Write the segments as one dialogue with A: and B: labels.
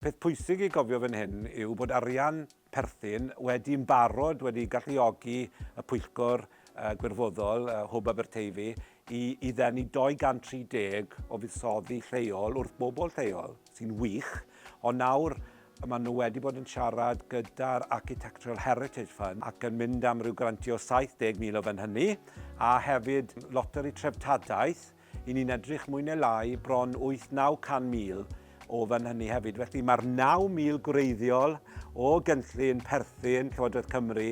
A: Peth pwysig i gofio fan hyn yw bod arian perthyn wedi yn barod wedi galluogi y Pwyllgor Gwirfoddol Hwb Aberteifi i i ddenu 230 o fuddsoddi lleol wrth bobl lleol, sy'n wych, ond nawr maen nhw wedi bod yn siarad gyda'r Architectural Heritage Fund ac yn mynd am ryw grantiau o 70,000 o fan hynny, a hefyd loteri treftadaeth. Y'n ni'n edrych mwy neu lai bron 8-900,000 o fan hynny hefyd. Felly mae'r 9,000 gwreiddiol o gynllun perthyn Llywodraeth Cymru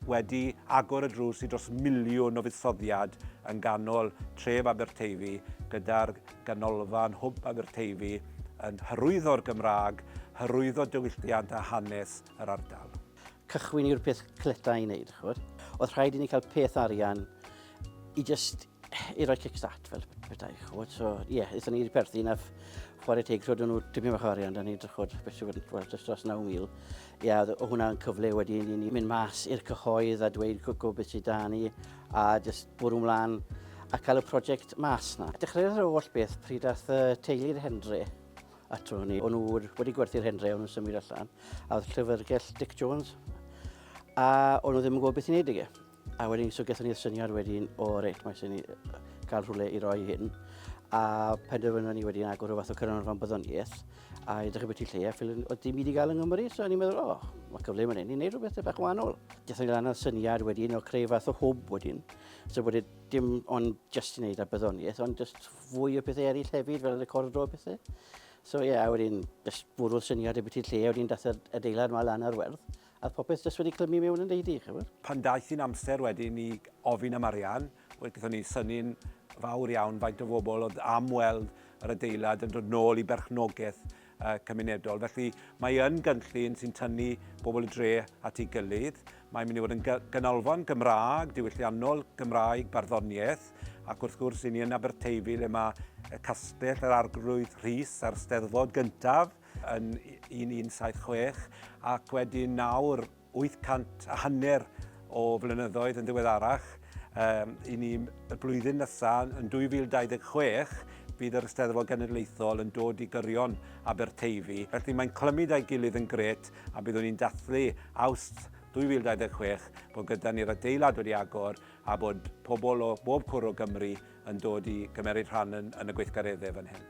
A: wedi agor y drws i dros miliwn o fuddsoddiad yn ganol tref Aberteifi gyda'r ganolfan hwb Aberteifi yn hyrwyddo'r Gymraeg, hyrwyddo diwylliant a hanes yr ardal. cychwyn yw'r peth cleta i wneud, chwr. Oedd rhaid i ni cael peth arian i just i roi kickstart fel bethau, chwr. So, ie, yeah, eithon ni wedi perthyn a chwarae teg, rhoed nhw tipyn bach arian, da ni wedi chwrdd beth sy'n wedi gweld dros dros 9,000. Ie, yeah, o hwnna'n cyfle wedi i ni mynd mas i'r cyhoedd a dweud gwybod beth sydd da ni a just bwrw mlaen a cael y prosiect mas na. Dechreuodd yr holl beth pryd ath y teulu'r Henry ato ni. O'n nhw wedi gwerthu'r hendre, o'n nhw'n symud allan, a oedd llyfrgell Dick Jones, a o'n nhw ddim yn gwybod beth i'n neud ag e. A wedyn, so gethon ni'r syniad wedyn, o reit, mae sy'n ni cael rhywle i roi hyn. A penderfynon ni wedyn agor o fath o cynarfon byddoniaeth, a edrych beth i lle, a ffilin, oedd dim i wedi gael yng Nghymru, so ni'n meddwl, o, oh, mae cyfle yn hyn i wneud rhywbeth bach wahanol. Gethon ni lan o'r syniad wedyn o creu fath o hwb wedyn, so bod e dim ond just i wneud ar byddoniaeth, ond just fwy o pethau eraill hefyd, fel recordo a pethau. So ie, yeah, a wedyn, just bwrw'r syniad y biti'r lle, a wedyn dath yr adeilad yma lan ar werth, a popeth jyst wedi clymu mewn yn deidi, chymod. Pan daeth i'n amser wedyn i ofyn am arian, wedi gyda ni syni'n fawr iawn faint o fobl oedd am weld yr adeilad yn dod nôl i berchnogaeth cymunedol. Felly mae yn gynllun sy'n tynnu bobl y dre at ei gilydd. Mae'n mynd i fod yn ganolfan Gymraeg, diwylliannol, Gymraeg, barddoniaeth, ac wrth gwrs i ni yn Aberteifi le mae y castell, yr arglwydd Rhys a'r steddfod gyntaf yn 1176 ac wedyn nawr 800 a hanner o flynyddoedd yn ddiweddarach, i ni y blwyddyn nesaf, yn 2026, bydd yr Eisteddfod Genedlaethol yn dod i gyrion Aberteifi. Felly mae'n clymu 'da'i gilydd yn grêt a byddwn ni'n dathlu Awst 2026 bod gyda ni'r adeilad wedi agor a bod pobl o bob cwr o Gymru yn dod i gymeryd rhan yn y gweithgareddau fan hyn.